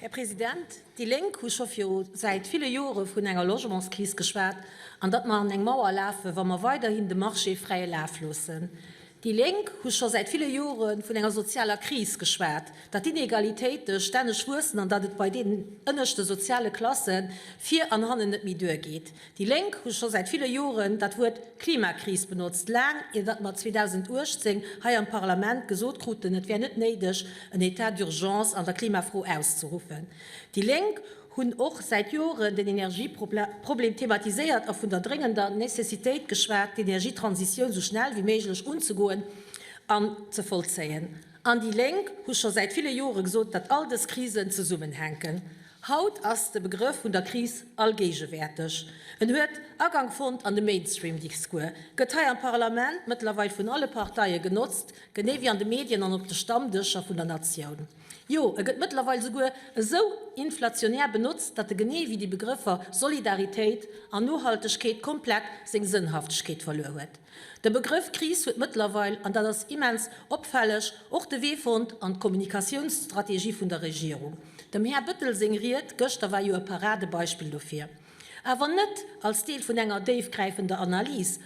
Här President, déi Lénk hu scho viru säit ville Jore vun enger Logementskris geschwat an datt mer an eng Mauer lafe wa mer weiderhin de Marché fräie Laf loossen. Déi Lénk hu scho säit ville Jore vun enger sozialer Kris geschwat, datt d'Inegalitéite stänneg wuessen an datt et bei deenen ënneschte soziale Klasse vir an hannen net méi duergeet. Déi Lénk hu scho säit ville Joren dat Wuert Klimakris benotzt, laang ier datt mer 2018 hei am Parlament gesot kruten, et wär net néideg en Etat d'urgence an der Klimafro auszeruffen. Déi Lénk hunn och säit Joren den Energieproblem thematiséiert a vun der dréngender Nécessitéit geschwat, d'Energietransitioun sou schnell wéi méiglech unzegoen an ze vollzéien. An déi Lénk hu scho säit ville Jore gesot, datt all dës Krisen zesummenhänken. Haut ass de Begrëff vun der Kris allgéigewäerteg. En huet Agank fonnt an de Mainstream-Discours, gëtt hei am Parlament mëttlerweil vun alle Parteie genotzt, genee wéi an de Medien an op de Stammdëscher vun der Natioun. Jo, e gëtt mëttlerweil esouguer esou inflationär benotzt, datt e genee wéi déi Begrëffer Solidaritéit an Nohaltegkeet komplett seng Sënnhaftegkeet verluer huet. De Begrëff Kris huet mëttlerweil, an dat ass immens opfälleg, och de Wee fonnt an d'Kommunikatiounsstrategie vun der Regierung. Dem Här Bettel seng Ried gëschter war jo e Paradebeispill dofir. Awer net als Deel vun enger déifgräifender Analys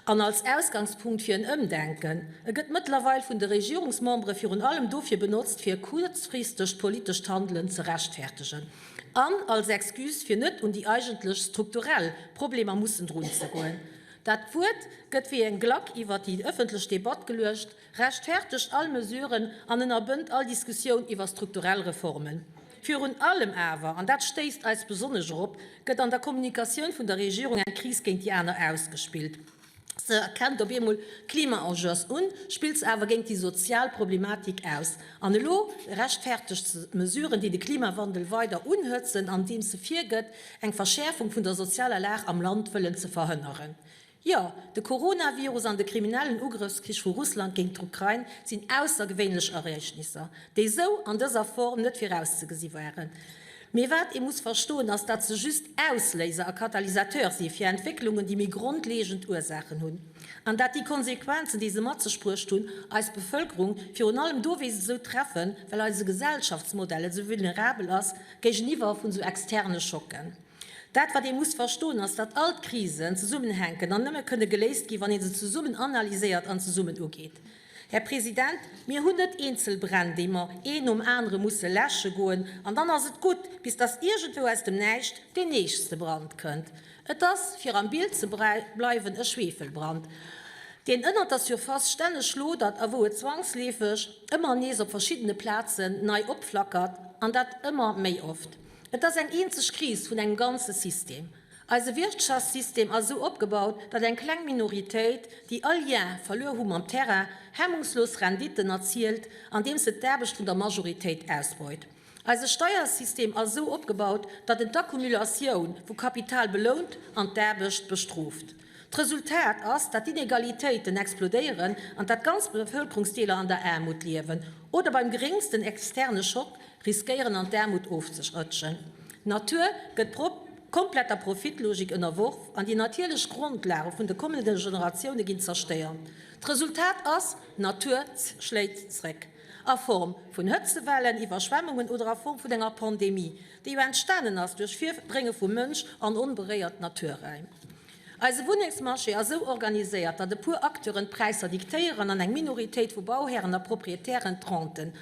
an als Ausgangspunkt fir en Ëmdenken. E gëtt mëttlerweil vun de Regierungsmembere virun allem dofir benotzt, fir e kuerzfristegt politescht Handelen ze rechtfertegen an als Excuse, fir net un déi eigentlech strukturell Problemer mussen drunzegoen. Dat Wuert gëtt wéi en Glack iwwert déi ëffentlech Debatt geluecht, rechtfertegt all Mesuren an ënnerbënnt all Diskussioun iwwer strukturell Reformen. Virun allem awer, an dat stéisst eis besonnesch erop, gëtt an der Kommunikatioun vun der Regierung eng Kris géint déi aner ausgespillt. Se erkennt op eemol d'Klima-Enjeux un, spillt se awer géint déi sozial Problematik aus. An elo rechtfertegt se Mesuren, déi de Klimawandel weider unhëtzen, andeems se virgëtt, eng Verschäerfung vun der sozialer Lag am Land wëllen ze verhënneren. Jo, de Coronavirus an de kriminellen Ugrëffskrich vu Russland géint d'Ukrain sinn aussergewéinlech Ereegnisser, déi esou an dëser Form net virauszegesi waren. Mee wat ee muss verstoen, ass, datt se just Ausléiser a Katalysateur si fir Entwécklungen, déi méi grondleeëgend Ursaachen hunn, an datt déi Konsequenzen, déi se mat sech bruecht hunn, eis Bevëlkerung virun allem dowéinst esou treffen, well eise Gesellschaftsmodell esou vulnerabel ass, Géigeniwwer vun esou externe Schocken. Dat wat ee muss verstoen ass, datt all d'Krisen zesummenhänken an nëmme kënne geléist ginn, wann ee se zesummen analyséiert an zesummen ugeet. Här President, mir hunn net eenzel Bränn, déi mer een nom anere musse läsche goen an dann ass et gutt, bis datt iergendwou aus dem Näischt deen nächste Brand kënnt. Et ass, fir am Bild ze bleiwen, e Schwefelbrand, deen ënnert der Surface stänneg lodert a wou et zwangsleefeg ëmmer nees op verschiddene Plazen nei opflackert, an dat ëmmer méi oft. Et ass eng eenzeg Kris vun engem ganze System. Eise Wirtschaftssystem ass esou opgebaut, datt eng kleng Minoritéit, déi all Lien verluer hu mam Terrain, hemmungslos Renditen erzielt, andeems se d'Aarbecht vun der Majoritéit ausbeut. Eise Steiersystem ass esou opgebaut, datt en d'Accumulatioun vu Kapital belount an d'Aarbecht bestrooft. D'Resultat ass, datt d'Inegalitéiten explodéieren an datt ganz Bevëlkerungsdeeler an der Aarmut liewen oder beim geréngsten externe Schock riskéieren an d'Aarmut ofzerëtschen. D'Natur gëtt der kompletter Profitlogik ënnerworf an déi natierlech Grondlage vun de kommende Generatioune ginn zerstéiert. D'Resultat ass, D'Natur schléit zréck. a Form vun Hëtzewellen, Iwwerschwemmungen oder a Form vun enger Pandemie, déi jo entstanen ass duerch Virdrénge vum Mënsch an onberéiert Naturräim. Eise Wunnengsmarché ass esou organiséiert, datt e puer Acteuren d'Präisser diktéieren an eng Minoritéit vu Bauhären a Proprietären d'Renten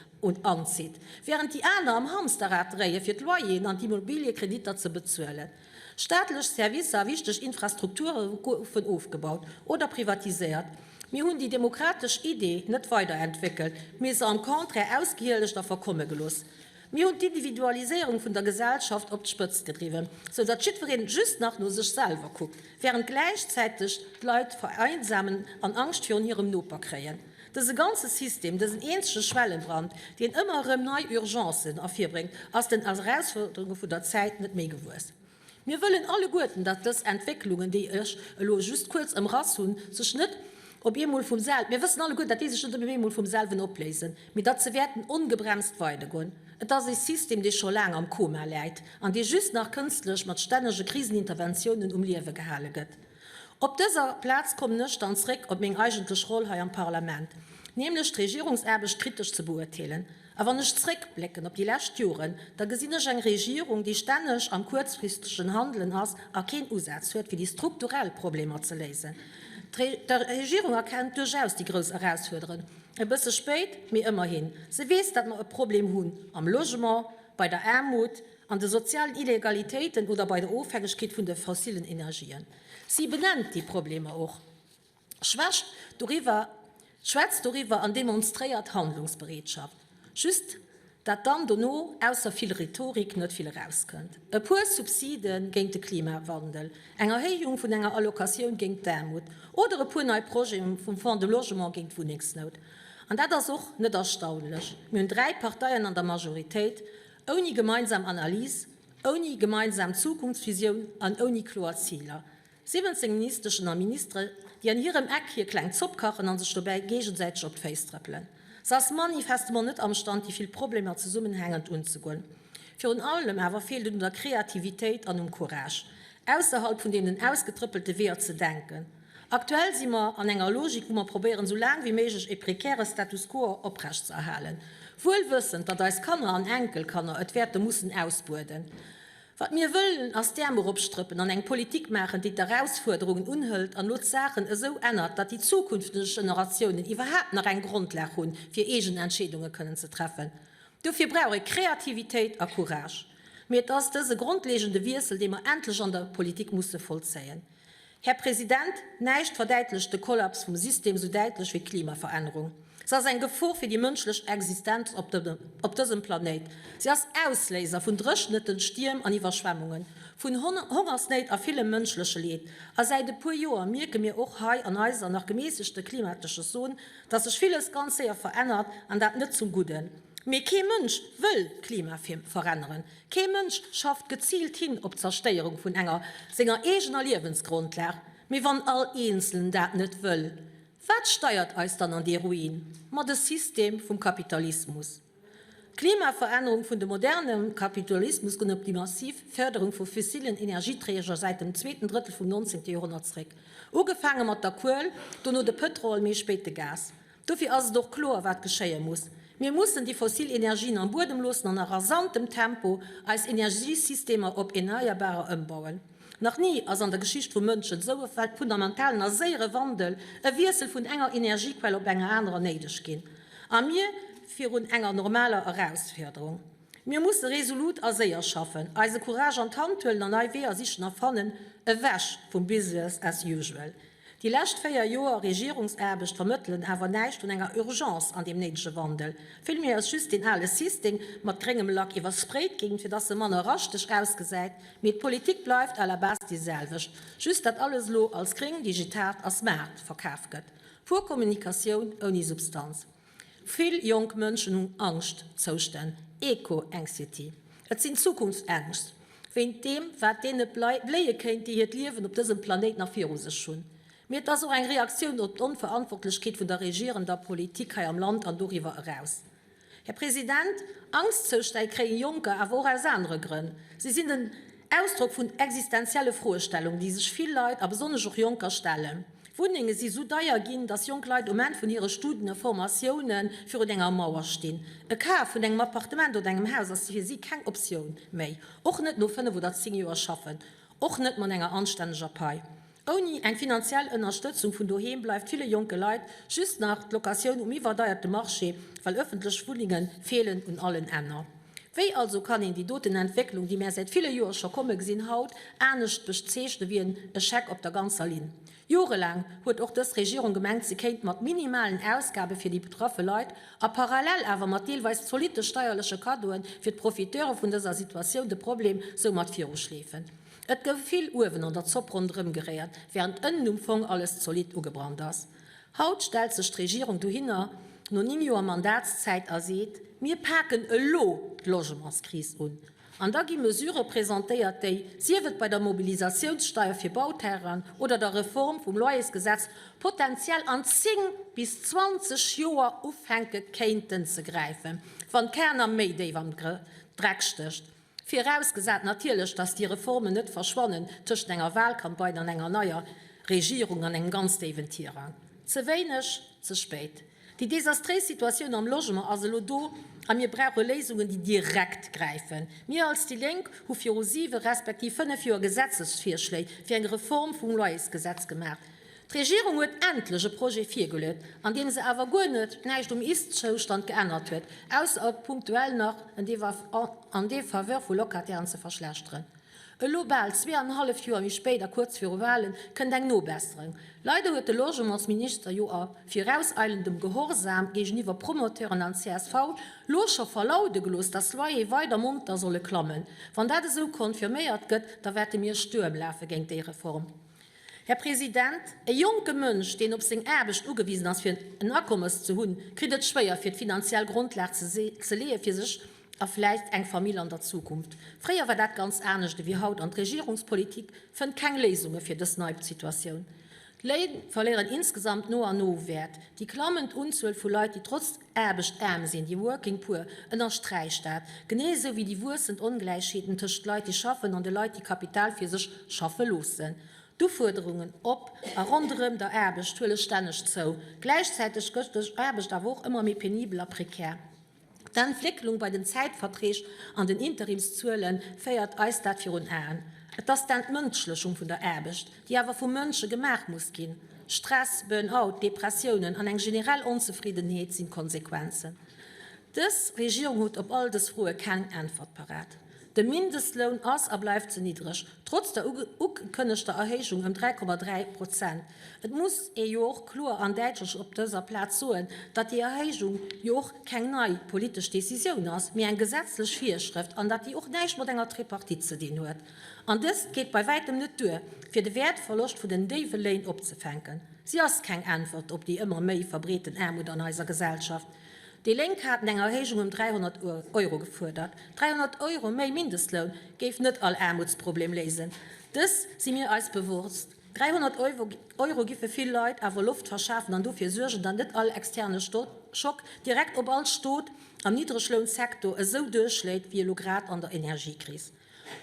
anzitt, wärend déi aner am Hamsterrad dréie fir d'Loyeren an d'Immobiliekreditter ze bezuelen. Staatlech Servicer a wichteg Infrastrukture goufen ofgebaut oder privatiséiert. Mir hunn déi demokratesch Iddi net weiderentwéckelt, mee se am Contraire ausgehielegt a verkomme gelooss. Mir hunn d'Individualiséierung vun der Gesellschaft op d'Spëtzt gedriwwen, sou datt jiddwereen just nach no sech selwer kuckt, während gläichzäiteg d'Leit vereinsamen an Angscht virun hirem Noper kréien. Dëse ganze System, dësen eenzege Schwellenbrand, deen ëmmer erëm nei Urgencen ervirbréngt, ass den Erausfuerderunge vun der Zäit net méi gewuess. Mir wëllen alleguerten, datt dës Entwécklungen, déi ech elo just kuerz ëmrass hunn, sech net op eemol vum sel, mir wëssen alleguerten, datt déi sech net op eemol vum selwen opléisen, mee datt se wäerten ongebremst weidergoen. Et ass ee System, dee scho laang am Koma läit an dee just nach kënstlech mat stännege Kriseninterventiounen um Liewe gehale gëtt. Op dëser Plaz kommen ech dann zréck op meng eigentlech Roll hei am Parlament, nämlech d'Regierungsaarbecht kritesch ze beuerteelen. A wann ech zréckblécken op déi lescht Joren, da gesinn ech eng Regierung, déi stänneg am kuerzfristegen Handelen ass a keen Usaz huet, fir déi strukturell Problemer ze léisen. D'Regierung erkennt duerchaus déi grouss Erausfuerderen, e bësse spéit, mee ëmmerhin. Se weess, datt mer e Problem hunn am Logement, bei der Aarmut, an de sozialen Illegalitéiten oder bei der Ofhängegkeet vun de fossillen Energien. Si benennt déi Problemer och, schwächt doriwwer, schwätzt doriwwer an demonstréiert Handlungsbereetschaft, just dat dann dono ausser vill Rhetorik net vill erauskënnt. E puer Subside géint de Klimawandel, eng Erhéijung vun enger Allocatioun géint d'Aarmut oder e puer nei Projeten vum Fonds de Logement géint d'Wunnengsnout. An dat ass och net erstaunlech, mir hunn dräi Parteien an der Majoritéit, Ouni gemeinsam Analys, ouni gemeinsam Zukunftsvisioun an ouni kloer Ziler. 17 Ministeschen a Ministere, déi an hirem Eck hir kleng Zopp kachen a sech dobäi géigesäiteg op d'Féiss trëppelen. S'ass manifestement net amstand, déi vill Problemer zesummenhängend unzegoen. Virun allem awer feelt et un der Kreativitéit an um Courage, ausserhalb vun deenen ausgetrëppelte Weeër ze denken. Aktuell si mer an enger Logik, wou mer probéieren, esou laang wéi méiglech e prekäre Status quo oprecht ze erhalen, wuel wëssend, datt eis Kanner an Enkelkanner et wäerte mussen ausbueden. Wat mir wëllen, ass d'Äerm eropstrëppen an eng Politik maachen, déi d'Erausfuerderungen unhëlt an elo d'Saachen esou ännert, datt déi zukünfteg Generatiounen iwwerhaapt nach eng Grondlag hunn, fir eegen Entscheedunge kënnen ze treffen. Dofir brauch ee Kreativitéit a Courage. Mee et ass dëse grondleegende Wiessel, dee mer endlech an der Politik musse vollzéien. Här President, näischt verdäitlecht de Kollaps vum System esou däitlech wéi d'Klimaverännerung. Se ass eng Gefor fir déi mënschlech Existenz op dësem Planéit. Se ass Ausléiser vun Dréchenten, Stierm an Iwwerschwemmungen, vun Hongersnéit a villem mënschleche Leed. A säit e puer Joer mierke mir och hei an eiser nach gemässegte klimatesche Zon, dass sech villes ganz séier verännert, an dat net zum Gudden. Mee kee Mënsch wëll d'Klima veränneren. Kee Mënsch schafft geziilt hin op d'Zerstéierung vun enger senger eegener Liewensgrondlag. Mee wann all Eenzelen dat net wëll, wat steiert eis dann an dee Ruin? Ma de System vum Kapitalismus. D'Klimaverännerung vun de moderne Kapitalismus goen op déi massiv Fërderung vu fissillen Energieträger säit dem zweeten Drëttel vum 19. Joerhonnert zréck. Ugefaange mat der Kuel, dono de Pëtrol, méi spéit de Gas. Dofir ass et och kloer, wat geschéie muss, Mir mussen déi fossil Energien am Buedem loossen an a rasantem Tempo eis Energiesystemer op erneierbarer ëmbauen. Nach ni ass an der Geschicht vum Mënschen esou e fundamentalen a séiere Wandel, e Wiessel vun enger Energiequell op eng anerer, néideg ginn a mir virun enger normaler Erausfuerderung. Mir musse resolut a séier schaffen, eise Courage an d'Hand huelen an nei Weeër sichen a fannen, ewech vum Business as usual. Déi lescht véier Joer Regierungsaarbecht vermëttelen awer näischt vun enger Urgence an deem néidege Wandel. Villméi ass just deen ale System mat gréngem Lack iwwersprayt ginn, fir dass e manner raschteg ausgesäit, mee d'Politik bleift à la base déi selwecht, just dat alles elo als gréng, digitalt a smart verkaf gëtt. Pur Kommunikatioun ouni Substanz. Vill jonk Mënschen hunn Angschtzoustänn, Eco-Anxiety. Et sinn Zukunftsängscht wéint deem, wat deene bléie kéint, déi hiert Liewen op dësem Planéit nach viru sech hunn. Mee et ass och eng Reaktioun op d'Onverantwortlechkeet vun der regierender Politik hei am Land an doriwwer eraus. Här President, Angstzoustäi kréie Jonker awer och aus anere Grënn. Si sinn den. Ausdrock vun existenzielle Froestellungen, déi sech vill Leit, a besonnesch och Jonker, stellen. Wunnenge si sou deier ginn, datt jonk Leit um Enn vun hire Studen a Formatioune virun enger Mauer stinn. E Kaf vun engem Appartement oder engem Haus ass fir si keng Optioun méi. Och net no 5 oder 10 Joer schaffen. Och net mat enger anstänneger Pai. Ouni eng finanziell Ënnerstëtzung vun doheem bleift ville jonke Leit just nach d'Locatioun um iwwerdeierte Marché, well ëffentlech Wunnenge feelen un allen Enner. Wéi also kann een déi doten Entwécklung, déi mär säit ville Joer scho komme gesinn, haut anescht bezeechne wéi en Echec op der ganzer Linn? Jorelaang huet och dës Regierung gemengt, se kéint mat minimalen Ausgabe fir déi betraffe Leit a parallel awer mat deelweis zolitte steierleche Kaddoe fir d'Profiteure vun dëser Situatioun de Problem soumat viruschleefen. Et gouf vill uewen an der Zopp ronderëm geréiert, während ënnen um Fong alles zolidd ugebrannt ass. Haut stellt sech d'Regierung dohinner no 9 Joer Mandatszäit a seet, Mir paken elo d'Logementskris un. An da gi Mesure presentéiert déi, sief et bei der Mobilisatiounssteier fir Bauterrainen oder der Reform vum Loyersgesetz, potentiell an 10 bis 20 Joer ufänke kéinten ze gräifen, wann keener méi déif am Dreck stécht. Virausgesat natierlech, dass déi Reformen net verschwannen tëschent enger Wahlcampagne an enger neier Regierung an engem ganz déiwen Tirang. Ze wéineg, ze spéit. Déi desastréis Situatioun am Logement ass elo do a mir brauche Léisungen, déi direkt gräifen. Mir als déi Lénk hu viru siwe respektiv fënnef Joer Gesetzesvirschléi fir eng Reform vum Loyersgesetz gemaach. D'Regierung huet endlech e Projet virgeluet, an deem se awer guer net näischt um Ist-Zoustand geännert huet, ausser e punktuell nach en an défaveur vu Locatairen ze verschlechteren. Elo, bal zwee an e halleft Joer méi spéit a kuerz viru Walen, kënnt eng Nobesserung. Leider huet de Logementsminister jo a virauseilendem Gehorsam géigeniwwer Promoteuren an csv lo scho verlaude gelooss, dass d'Loyere weider monter solle klammen. Wann dat esou konfirméiert gëtt, da wäerte mir Stuerm lafe géint déi Reform. Här President, e jonke Mënsch, deen op seng Aarbecht ugewisen ass, fir en Akommes ze hunn, kritt et schwéier, fir d'finanziell Grondlag ze leeë fir sech a vläicht eng Famill an der Zukunft. Fréier war dat ganz anescht ewéi haut an d'Regierungspolitik fënnt keng Léisunge fir dës nei Situatioun. D'Léin verléieren insgesamt no an no u Wäert. Déi klammend Unzuel vu Leit, déi trotz. Aarbechtsaarm sinn, déi Working Poor, ënnersträicht dat, genee esou wéi déi wuessend Ongläichheeten tëscht Leit, déi schaffen, an de Leit, déi Kapital fir sech schaffe loossen. D'Ufuerderungen op a ronderëm der Aarbecht huele stänneg zou. Gläichzäiteg gëtt Aarbecht awer och ëmmer méi penibel a prekär. D'Entwécklung bei den Zäitverträg an den Interimszuele féiert eis dat virun Aen. Et ass d'Entmënschlechung vun der Aarbecht. déi awer vu Mënsche gemaach muss ginn. Stress, Burn-out, Depressiounen an eng generell Onzefriddenheet sinn d'Konsequenzen. Dës Regierung huet op all dës Froe keng Äntwert parat. De Mindestloun ass a bleift ze niddreg, trotz der ugekënnegter Erhéijung ëm 3,3 Prozent. Et muss ee jo och kloer an däitlech op dëser Plaz soen, datt déi Erhéijung jo och keng nei politesch Decisioun ass, mee eng gesetzlech Virschrëft an datt déi och näischt mat enger Tripartite ze dinn huet. An dëst geet bei wäitem net duer, fir de Wäertverloscht vun den déiwe Léin opzefänken. Si ass keng Äntwert op déi ëmmer méi verbreeten Aarmut an eiser Gesellschaft. Déi Lénk haten eng Erhéijung ëm 300 Euro gefuerdert. 300 Euro méi Mindestloun géif net all Aarmutsproblem léisen. Dës si mir eis bewosst. 300 Euro gi fir vill Leit awer Loft verschafen an dofir suergen, datt net all externe Schock direkt op all Stot am Niddreglounsektor esou duerchschléit wéi elo grad an der Energiekris.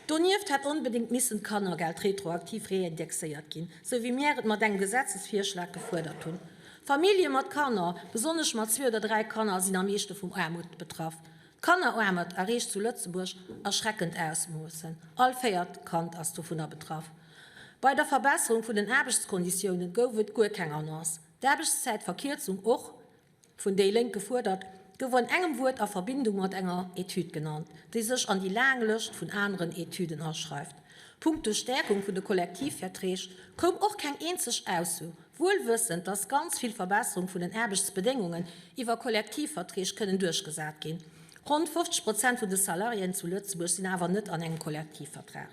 Donieft hätt onbedéngt missen d'Kannergeld retroaktiv reindexéiert ginn, sou wéi mir et mat engem Gesetzesvirschlag gefuerdert hunn. Famillje mat Kanner, besonnesch mat zwee oder dräi Kanner, sinn am meeschte vum Aarmut betraff. D'Kanneraarmut erreecht zu Lëtzebuerg erschreckend Ausmoossen, all véiert Kand ass dovunner betraff. Bei der Verbesserung vun den Aarbechtskonditiounen gouf et guer keng Annonce, d'Aarbechtszäitverkierzung och. Vun déi Lénk gefuerdert, gouf an engem Wuert a Verbindung mat enger Etüd genannt, déi sech an déi laang Lëscht vun aneren Etüden aschreift. Punkto Stäerkung vun de Kollektivverträg koum och keng eenzeg Ausso, wuel wëssend, datt ganz vill Verbesserung vun den Aarbechtsbedéngungen iwwer Kollektivverträg kënnen duerchgesat ginn. Ronn 50 Prozent vun de Salariéen zu Lëtzebuerg sinn awer net an engem Kollektivvertrag.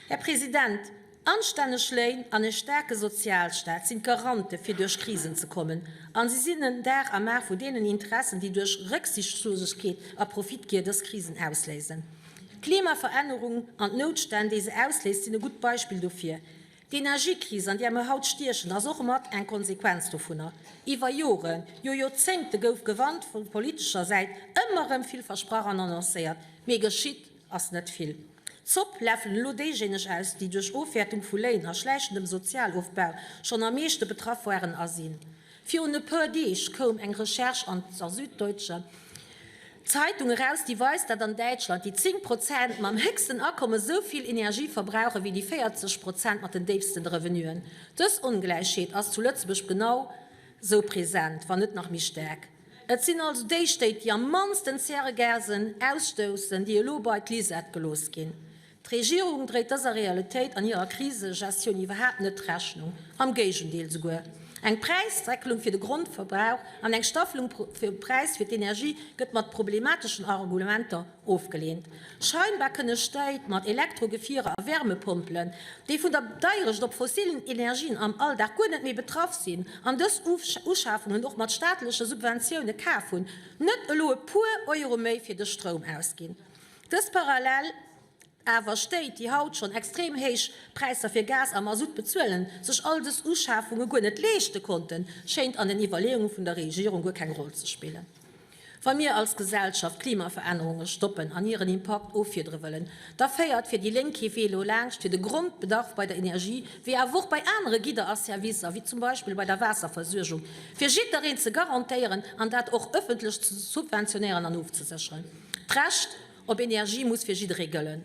Här President, Anstänneg Léin an e staarke Sozialstaat sinn d'Garante fir duerch Krisen ze kommen a si sinn en Dar am A vu deenen Interessen, déi duerch Récksiichtslosegkeet a Profitgier dës Krisen ausléisen. D'Klimaverännerung an d'Noutstänn, déi se ausléist, sinn e gutt Beispill dofir. D'Energiekris, an där mer haut stiechen, ass och mat eng Konsequenz dovunner. Iwwer Joren, jo Joerzéngte gouf gewarnt, vu politescher Säit ëmmer erëm vill versprach an annoncéiert, mee geschitt Ass net vill. Zopp lafen elo déijéineg aus, déi duerch Ofwäertung vu Léin a schläichendem Sozialofbau schonn am meeschte betraff waren a sinn. Virun e puer Deeg koum eng Recherche an der Süddeutscher Zeitung eraus, déi weist, datt an Däitschland déi 10 Prozent mam héchsten Akomme esou vill Energie verbrauchen, wéi déi 40 Prozent mat den déifsten Revenuen. Dës Ongläichheet ass zu Lëtzebuerg genau esou present, wann net nach méi staark. Et sinn also déi Stéit, déi am mannsten Zäregasen ausstoussen, déi elo bei d'Lisette gelooss ginn. D'Regierung dréit dëser Realitéit an hirer Krisegestioun iwwerhaapt net Rechnung, am Géigendeel souguer. Eng Präisdeckelung fir de Grondverbrauch an eng Staffelung vum Präis fir d'Energie gëtt mat problemateschen Argumenter Ofgeleent. Scheinbar kënne Steit mat Elektrogefierer a Wärmepompelen, déi vun der Deierecht op fossillen Energien am Alldag guer net méi betraff sinn an dës Uschafungen och mat staatleche Subventioune kaf hunn, net elo e puer Euro méi fir de Stroum ausginn. Dës parallel. Awer Stéit, déi haut schonn extrem héich Präisser fir Gas a Masutt bezuelen, sech all dës Uschafunge guer net leeschte konnten, schéint an den Iwwerleeunge vun der Regierung guer keng Roll ze spillen. Wa mir als Gesellschaft d'Klimaverännerunge stoppen an hiren Impakt offiedere wëllen, da féiert fir déi Lénk kee Wee lo laanscht fir de Grondbedarf bei der Energie wéi awer och bei anere Gidder a Servicer, wéi zum Beispill bei der Waasserversuergung, fir jidderen ze garantéieren an dat och ëffentlech ze subventionéieren an ofzesécheren. D'Recht. op Energie muss fir jidderee gëllen.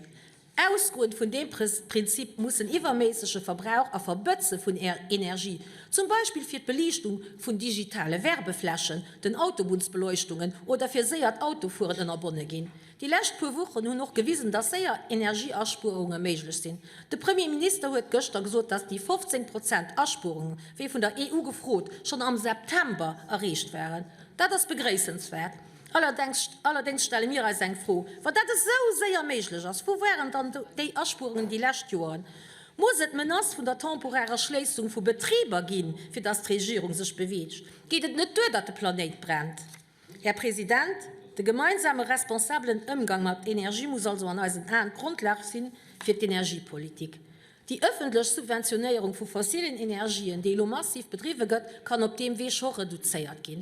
Ausgoend vun deem Prinzip muss en iwwerméissege Verbrauch a Verbëtze vun Energie, zum Beispill fir d'Beliichtung vun digitale Werbeflächen, den Autobunnsbeleuchtungen oder fir séiert Autofueren, ënnerbonne ginn. Déi lescht puer Wochen hunn och gewisen, dass séier Energieaspuerunge méiglech sinn. De Premier Minister huet gëschter gesot, dass déi 15 Prozent Aspuerung, wéi vun der EU gefrot, schonn am September erreecht waren. Dat ass begréissenswäert. Allerdéngs stelle mir eis eng Fro, Wa dat esou séier méiglech ass, wou waren dann déi Aspuerungen déi lescht Joren? Muss et d'Menace vun der temporärer Schléissung vu Betriber ginn, fir datt d'Regierung sech beweegt? Geet et net duer, datt de Planéit brennt? Här President, de gemeinsame responsabelen Ëmgang mat Energie muss also an eisen Aen d'Grundlag si fir d'Energiepolitik. Déi ëffentlech Subventionéierung vu fossilen Energien, déi elo massiv bedriwwe gëtt, kann op deem Wee scho reduzéiert ginn.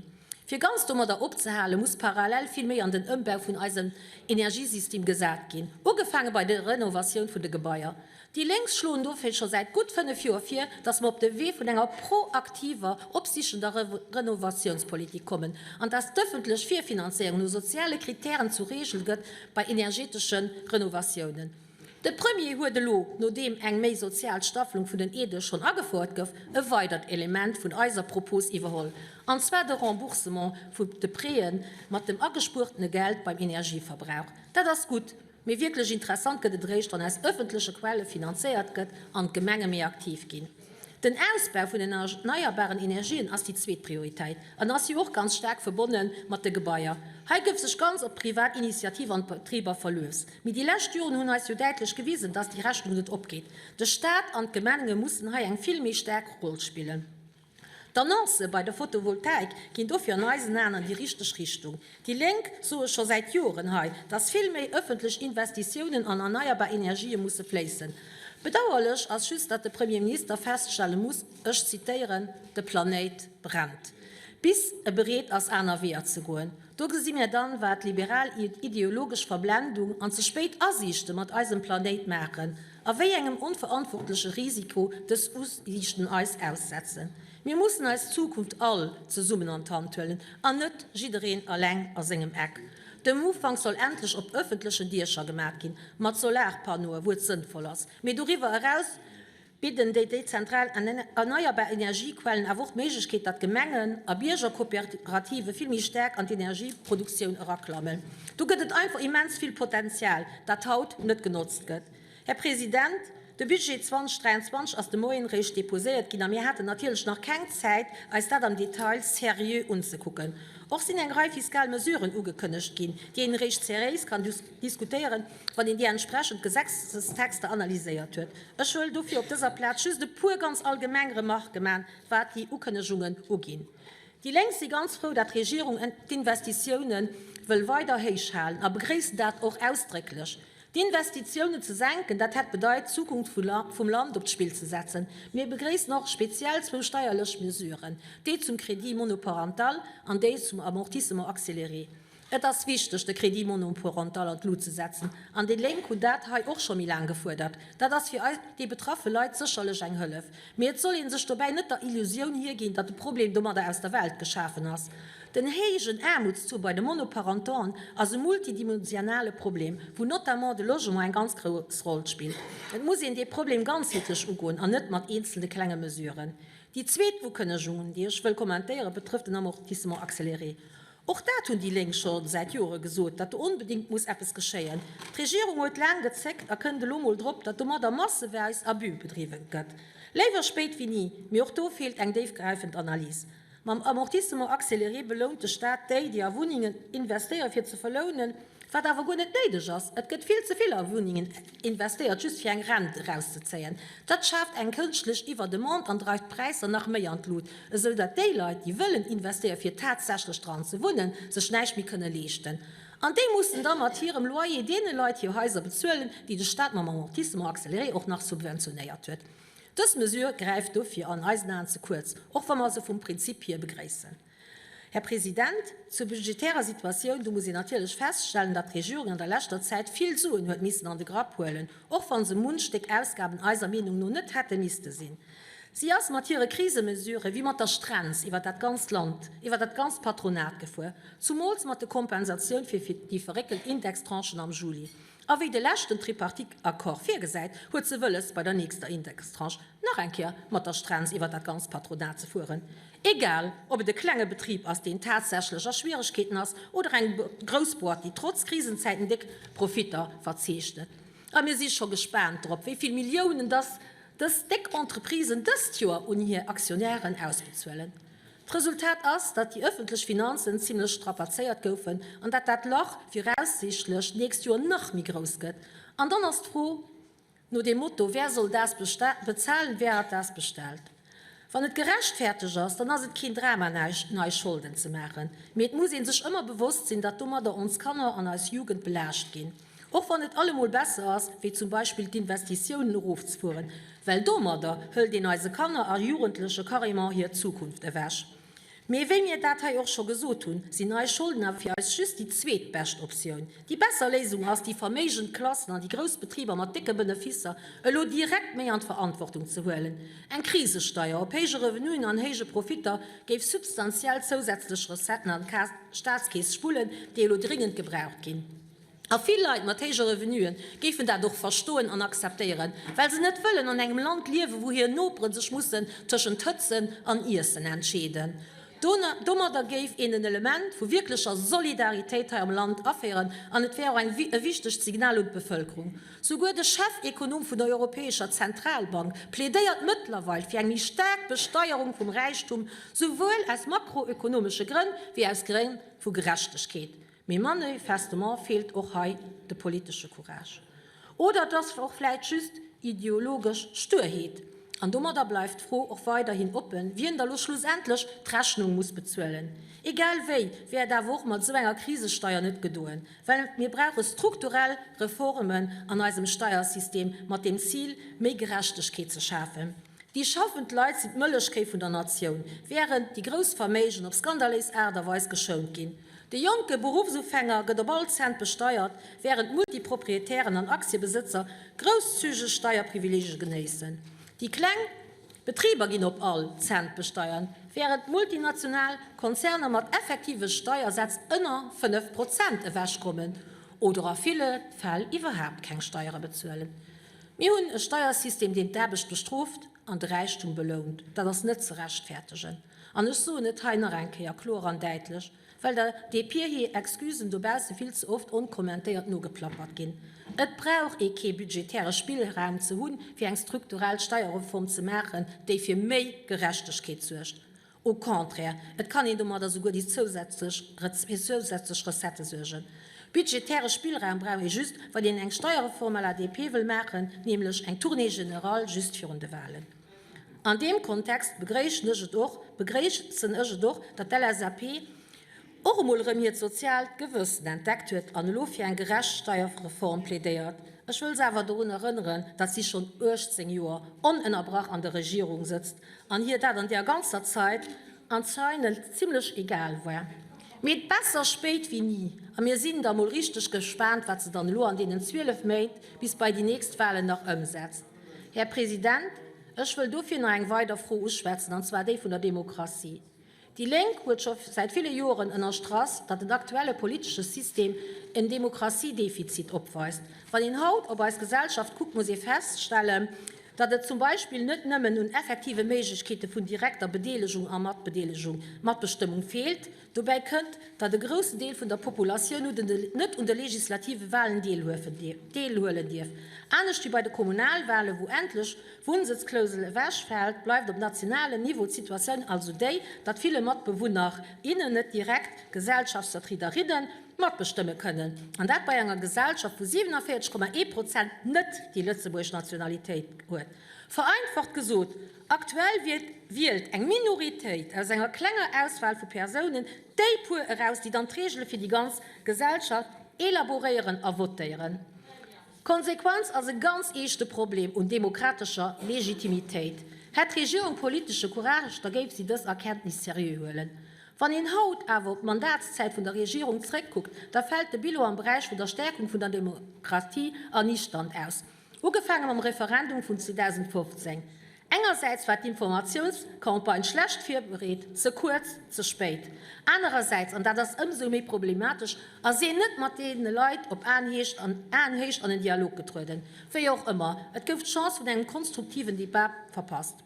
Fir ganz domadder opzehalen, muss parallel vill méi an den Ëmbau vun eisem Energiesystem gesat ginn, ugefaange bei der Renovatioun vun de Gebaier. Déi Lénks schloen dofir scho säit gutt fënnef Joer vir, dass mer op de Wee vun enger proaktiver, opsichender Renovatiounspolitik kommen an dass d'ëffentlech Virfinanzéierung no soziale Kritären zur Reegel gëtt bei energeetesche Renovatiounen. De Premier huet elo, nodeem eng méi sozial Staffelung vun den Aidë schonn agefouert gouf, e weidert Element vun eiser Propos iwwerholl, an zwar de Remboursement vu de Prêtë mat dem agespuertene Geld beim Energieverbrauch. Dat ass gutt, mee wierklech interessant gëtt et eréischt, wann aus ëffentleche Quelle finanzéiert gëtt an d'Gemenge méi aktiv ginn. Den Ausbau vun den erneierbaren Energien ass déi zweet Prioritéit an ass jo och ganz staark verbonne mat de Gebaier. Hei gouf sech ganz op privat Initiative an d'Betriber verluess. Mee déi lescht Joren hunn eis jo däitlech gewisen, dass déi Rechnung net opgeet. De Staat an d'Gemenge mussen hei eng vill méi staark Roll spillen. D'Annoncë bei der Fotovoltaik ginn dofir an eisen Aen an déi richteg Richtung. Déi Lénk soe scho säit Joren hei, dass vill méi ëffentlech Investitiounen an erneierbar Energië musse fléissen. Bedauerlech ass just, datt de Premier Minister feststelle muss, ech zitéieren, De Planéit brennt. Bis e bereet ass aner Weeër ze goen. Do gesi mir dann, wat liberal ideologesch Verblendung an ze spéit Asiichte mat eisem Planéit maachen a wéi engem onverantwortleche Risiko dës Usiichten eis aussetzen. Mir mussen eis Zukunft all zesummen an d'Hand huelen an net jiddereen alleng a sengem Eck. De Moufang soll endlech op ëffentlechen Diecher gemat ginn, mat Solarpannoe wou et sënnvoll ass. Mee doriwwer eraus bidden déi dezentral erneierbar Energiequellen awer och d'Méiglechkeet, datt Gemengen a Biergerkooperative vill méi staark an d'Energieproduktioun eraklammen. Do gëtt et einfach immens vill Potenzial, dat haut net genotzt gëtt. Här President, de Budget 2023 ass de Moien eréischt deposéiert ginn a mir haten natierlech nach keng Zäit, eis dat am Detail seriö unzekucken. Och sinn eng Rei fiskal Mesuren ugekënnegt ginn, déi een eréischt seréis kann diskutéieren, wann een déi entsprechend Gesetzestexter analyséiert huet. Ech wëll dofir op dëser Plaz just e puer ganz allgemeng Remarquë man, wat déi Ukënnegungen uginn. Déi Lénk si ganz frou, dat d'Regierung d'Investitiounen wëll weider héichhalen a begréissen dat och ausdrécklech. D'Investitiounen ze senken, dat hätt bedeit, d'Zukunft vum Land op d'Spill ze setzen. Mir begréissen och speziell zwou steierlech Mesuren, déi zum Crédit monoparental an déi zum Amortissement accéléré. Et ass wichteg, de Crédit monoparental an d'Lut ze setzen, an déi Lénk hunn dat hei och scho méi laang gefuerdert. Dat ass fir déi betraffe Leit sécherlech eng Hëllef. Mee et soll ee sech dobäi net der Illusioun hierginn, datt de Problem domadder aus der Welt geschafen ass. Den héijen Aarmutstaux bei de Monoparentauxen ass e multidimensionale Problem, wou notamment de Logement eng ganz grouss Roll spillt. Et muss een dee Problem ganzheetlech ugoen an net mat eenzelne klenge Mesuren. Déi zweet Ukënnegungen, déi ech wëll kommentéieren, betrëfft den Amortissement accéléré. Och dat hunn déi Lénk scho säit Jore gesot, datt do onbedéngt muss eppes geschéien. D'Regierung huet laang gezéckt a kënnt elo mol drop, datt domadder masseweis Abus bedriwwen gëtt. Léiwer spéit wéi ni, mee och do feelt eng déifgräifend Analys. Mam Amortissement accéléré belount de Staat déi, déi a Wunnengen investéieren fir ze verlounen, wat awer guer net néideg ass. Et gëtt vill ze vill a Wunnengen. Investéiert just fir eng Rent erauszezéien. Dat schaaft eng kënschtlech Iwwerdemande an dreift d'Präisser nach méi an d'Lut, esou datt déi Leit, déi wëllen investéiere fir tatsächlech dran ze wunnen, sech näischt méi kënne leeschten. An déi mussen da mat hirem Loyer deene Leit hir Haiser bezuelen, déi de Staat mam Amortissement accéléré och nach subventionéiert huet. Dës Mesure gräift dofir an eisen Aen ze kuerz, och wa mer se vum Prinzip hier begréissen. Här President, zur budgetärer Situatioun, do muss een natierlech feststellen, datt d'Regierung an der leschter Zäit vill Suen huet missen an de Grapp huelen, och wa se munch Stéck Ausgaben eiser Meenung no net hätte misste sinn. Si ass mat hire Krisemesurë wéi mat der Strenz iwwer dat ganzt Land, iwwer dat ganzt Patronat gefuer, zumools mat de Kompensatioun fir déi verréckelt Indextranchen am Juli. A wéi de leschten Tripartite-Accord virgesäit, huet se wëlles, bei der nächster Indextranche nach eng Kéier mat der Strenz iwwer dat ganzt Patronat ze fueren, egal ob et e klenge Betrib ass, deen tatsächlech a Schwieregkeeten ass, oder eng grouss Boîte, déi trotz Krisenzäiten déck Profitter verzeechnet. A mir si scho gespaant drop, wéi vill Milliounen dass dës déck Entreprisen dëst Joer un hir Aktionären ausbezuelen. D'Resultat ass, datt déi ëffentlech Finanzen zimmlech strapazéiert goufen an datt dat Lach viraussiichtlech d'nächst Joer nach méi grouss gëtt. An dann ass d'Fro no dem Motto, Wer soll das bezahlen? Wer hat das bestellt? Wann et gerechtfertegt ass, dann ass et keen Drama nei Scholden ze maachen, mee et muss ee sech ëmmer bewosst sinn, datt domadder ons Kanner an eis Jugend belaascht ginn. Och wann et allemol besser ass, wéi zum Beispill d'Investitiounen erofzefueren, well domadder hëlt een eise Kanner a Jugendleche carrément hir Zukunft ewech. Mee wéi mir dat hei och scho gesot hunn, sinn nei Scholden awer fir eis just déi zweet bescht Optioun. Déi besser Léisung ass, déi verméigend Klassen an déi grouss Betriber mat décke Benefisser elo direkt méi an d'Verantwortung ze huelen. Eng Krisesteier op héije Revenuen an héije Profitter géif substantiell zousätzlech Recetten an d'Staatskeess spullen, déi elo dringend gebraucht ginn. A vill Leit mat héije Revenuen géifen dat och verstoen an akzeptéieren, well se net wëllen an engem Land liewen, wou hir Nopere sech mussen tëschent Hëtzen an Iessen entscheeden. Domadder géif een en Element vu wierklecher Solidaritéit hei am Land aféieren an et wär och e wichtegt Signal un d'Bevëlkerung. Souguer de Chefekonom vun der Europäescher Zentralbank plädéiert mëttlerweil fir eng méi staark Besteierung vum Räichtum, souwuel aus makroökonomesche Grënn wéi aus Grënn vu Gerechtegkeet. Mee manöifestement feelt och hei de politesche Courage. Oder et ass och vläit just ideologesch Stuerheet. An domadder bleift d'Fro och weiderhin oppen, wien da lo schlussendlech d'Rechnung muss bezuelen. Egal wéi wär et awer och mat esou enger Krisesteier net gedoen, well mir brauche strukturell Reformen an eisem Steiersystem mat dem Zil, méi Gerechtegkeet ze schafen. Déi schaffend Leit sinn d'Mëllechkéi vun der Natioun, wärend déi grouss Verméigen op skandaléis Aart a Weis geschount ginn. De jonke Beruffsufänger gëtt op all Cent besteiert, wärend d'Multiproprietären an Aktiebesëtzer grousszügeg Steierprivileegie genéissen. Déi kleng Betriber ginn op all Cent besteiert, wärend d'multinational Konzerner mat effektive Steiersätz ënner 5 Prozent ewechkommen oder a ville Fäll iwwerhaapt keng Steiere bezuelen. Mir hunn e Steiersystem, deen d'Aarbecht bestrooft an de Räichtum belount. Dat ass net ze rechtfertegen. An ech soen et hei nach eng Kéier kloer an däitlech, well der dee Pier hir Excusen dobausse vill ze oft onkommentéiert nogeplappert ginn, Et brauch ee kee budgetäre Spillraum ze hunn, fir eng strukturell Steierreform ze maachen, déi fir méi Gerechtegkeet suergt. Au contraire, et kann een domadder souguer déi zousätzlech, fir zousätzlech Recettë suergen. Budgetäre Spillraum brauch ee just, wann een eng Steierreform à la DP wëll maachen, nämlech eng Tournée générale just virun de Wahlen. An deem Kontext begréischen ech et och, begréissen ech et och, datt d'LSAP, och emol erëm hiert soziaalt Gewëssen entdeckt huet an elo fir eng gerecht Steierreform plädéiert. Ech wëll se awer dorun erënneren, datt si schonn 18 Joer onënnerbrach an der Regierung sëtzt an hir dat an där ganzer Zäit anzeinend zimlech egal war. Mee besser spéit wéi ni a mir sinn da mol richteg gespaant, wat se dann elo an deenen 12 Méint bis bei déi nächst Wahlen nach ëmsetzt. Här President, ech wëll dofir nach eng weider Fro uschwätzen, an zwar déi vun der Demokratie. Déi Lénk huet scho säit ville Joren ënnerstrach, datt den aktuelle politesche System en Demokratiedefizit opweist. Wann een haut op eis Gesellschaft kuckt, muss ee feststellen, datt et zum Beispill net nëmmen un effektive Méiglechkeete vun direkter Bedeelegung a Matbedeelegung, Matbestëmmung, feelt. Dobäi kënnt, datt e groussen Deel vun der Populatioun net un de legislative Walen deelhuelen dierf, anescht wéi bei de Kommunalwalen, wou endlech, D'Wunnsëtzklousel ewechfält, bleift op nationalem Niveau d'Situatioun also déi, datt ville Matbewunner, innen net direkt Gesellschaftsvertriederinnen d' matbestëmme kënnen, an dat bei enger Gesellschaft, wou 47,1 Prozent net déi lëtzebuergesch Nationalitéit huet. Vereinfacht gesot, aktuell wielt eng Minoritéit aus enger klenger Auswahl vu Persounen déi puer eraus, déi dann d'Regele fir déi ganz Gesellschaft elaboréieren a votéieren. D'Konsequenz ass e ganz eeschte Problem un demokratescher Legitimitéit. Hätt d'Regierung politesche Courage, da géif si dës Erkenntnis seriö huelen. Wann een haut awer op d'Mandatszäit vun der Regierung zréckkuckt, da fält de Bilan am Beräich vun der Stäerkung vun der Demokratie erniichternd aus, ugefaange mam Referendum vun 2015. Engersäits war d'Informatiounscampagne schlecht virbereet, ze kuerz, ze spéit. Anerersäits, an dat ass ëmsou méi problematesch, ass een net mat deene Leit op Aenhéicht an en Dialog getrueden. Wéi och ëmmer, et gouf d'Chance vun engem konstruktiven Debat verpasst.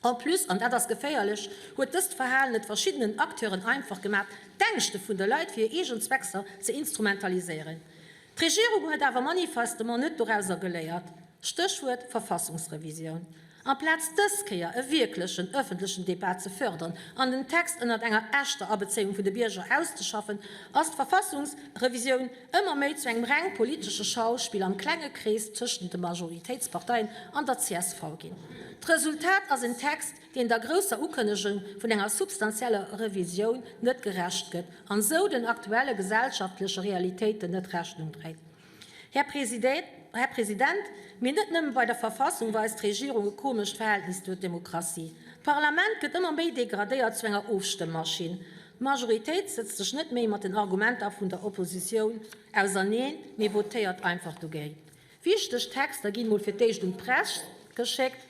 En plus, an dat ass geféierlech, huet dëst Verhalen et verschiddenen Acteuren einfach gemaach, d'Ängschte vun de Leit fir hir eegen Zweckser ze instrumentaliséieren. D'Regierung huet awer manifestement net dorausser geléiert. Stéchwuert Verfassungsrevisioun. Amplaz dës Kéier e wierklechen ëffentlechen Debat ze fërdern an den Text ënnert enger echter Abezéiung vun de Bierger auszeschaffen, ass d'Verfassungsrevisioun ëmmer méi zu engem reng politesche Schauspill am klenge Krees tëschent de Majoritéitsparteien an der csv ginn. D'Resultat ass en Text, deen der grousser Ukënnegung vun enger substanzieller Revisioun net gerecht gëtt an esou den aktuelle gesellschaftleche Realitéiten net Rechnung dréit. Här President, mee net nëmme bei der Verfassung weist d'Regierung e komescht Verhältnis zur Demokratie. D'Parlament gëtt ëmmer méi degradéiert zu enger Ofstëmmmaschinn. D'Majoritéit sëtzt sech net méi mat den Argumenter vun der Oppositioun auserneen, mee votéiert einfach dogéint. Wichteg Texter ginn mol fir d'éischt un d'Press geschéckt,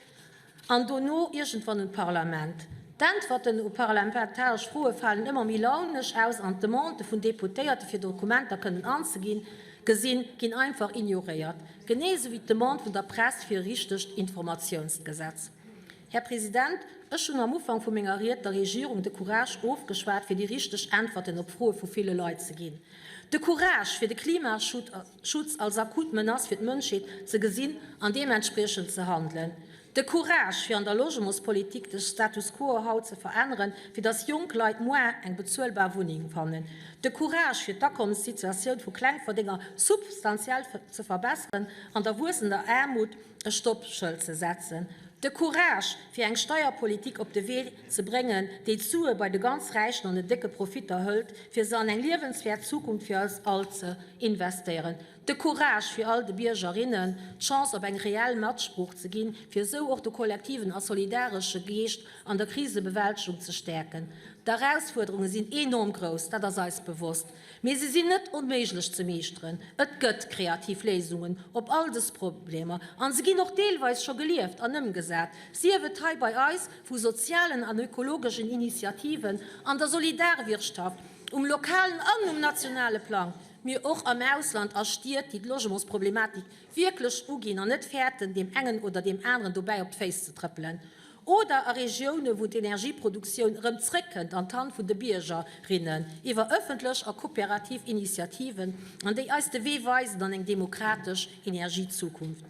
An dono iergendwann un d'Parlament. D'Äntwerten op parlamentaresch Froe falen ëmmer méi launesch aus an d'Demandë vun Deputéierte fir Dokumenter kënnen anzeginn, gesinn, ginn einfach ignoréiert. Genee esou wéi d'Demande vun der Press fir e richtegt Informatiounsgesetz. Här President, ech hunn am Ufank vu menger Ried der Regierung de Courage ofgeschwat fir déi richteg Äntwerten op Froe vu ville Leit ze ginn, de Courage fir de Klimaschutt, Schutz als akut Menace fir d'Mënschheet ze gesinn an deementspriechend ze handelen. De Courage, fir an der Logementspolitik de Status quo haut ze veränneren, fir dass jonk Leit muar eng bezuelbar Wunneng fannen. De Courage, fir d'Akommenssituatioun vu Klengverdénger substantiell ze verbesseren an der wuessender Aarmut e Stoppschëld ze setzen. De Courage, fir eng Steierpolitik op de Wee ze bréngen, déi d'Sue bei de ganz Räichen an den décke Profitter hëlt, fir se an eng liewenswäert Zukunft fir eis all ze investéieren. De Courage fir all de Bierger, rinnen d'Chance op eng reell Matsprooch ze ginn, fir esou och de kollektiven a solidaresche Geescht an der Krisebewältegung ze stäerken. D'Erausfuerderunge sinn enorm grouss, dat ass eis bewosst. Mee se sinn net onméiglech ze meeschteren. Et gëtt kreativ Léisungen op all dës Problemer an se ginn och deelweis scho gelieft an ëmgesat, sief et hei bei eis vu sozialen an ökologeschen Initiativen an der Solidarwirtschaft um lokalen an um nationale Plang, mee och am Ausland a Stied, déi d'Logementsproblematik wierklech uginn an net fäerten, deem engen oder deem aneren dobäi op d'Féiss ze trëppelen. oder a Regiounen, wou d'Energieproduktioun erëm zréckkënnt an d'Hand vun de Bierger, rinnen, iwwer ëffentlech a kooperativ Initiativen, an déi eis de Wee weisen an eng demokratesch Energiezukunft.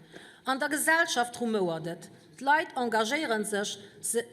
An der Gesellschaft rumouert et, d'Leit engagéiere sech, se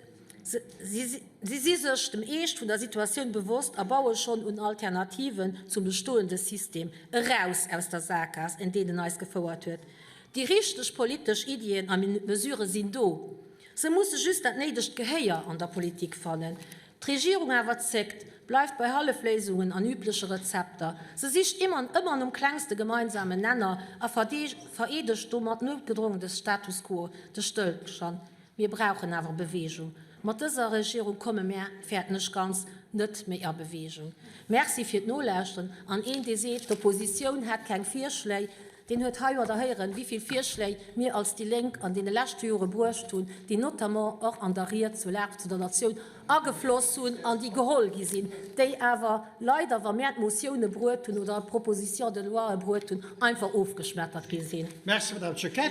si sech dem Eescht vun der Situatioun bewosst a baue schonn un Alternativen zum bestoende System, eraus aus der Saakgaass, en deenen eis gefouert huet. Déi richteg politesch Iddien a Mesurë sinn do, se musse just dat néidegt Gehéier an der Politik fannen. D'Regierung awer zéckt, bleift bei Hallefléisungen an übleche Rezepter. Se sicht ëmmer an ëmmer nom klengste gemeinsamen Nenner a vereedegt domat noutgedrongen de Status quo, de Stëllstand. Mir brauchen awer Beweegung. Mat dëser Regierung komme mär, fäerten ech ganz, net méi a Beweegung. Merci fir d'Nolauschteren. An een, dee seet, d'Oppositioun hätt keng Virschléi, Deen huet hei oder héieren, wéi vill Virschléi mir als déi Lénk an deene leschte Jore bruecht hunn, déi notamment och an der Ried zur Lag, zu der Natioun agefloss hunn an déi geholl gi sinn, déi awer leider, wa mär d'Motioune bruet hunn oder d'Propositions de loie bruet hunn, einfach ofgeschmettert gi sinn. Merci, Madame Choquette.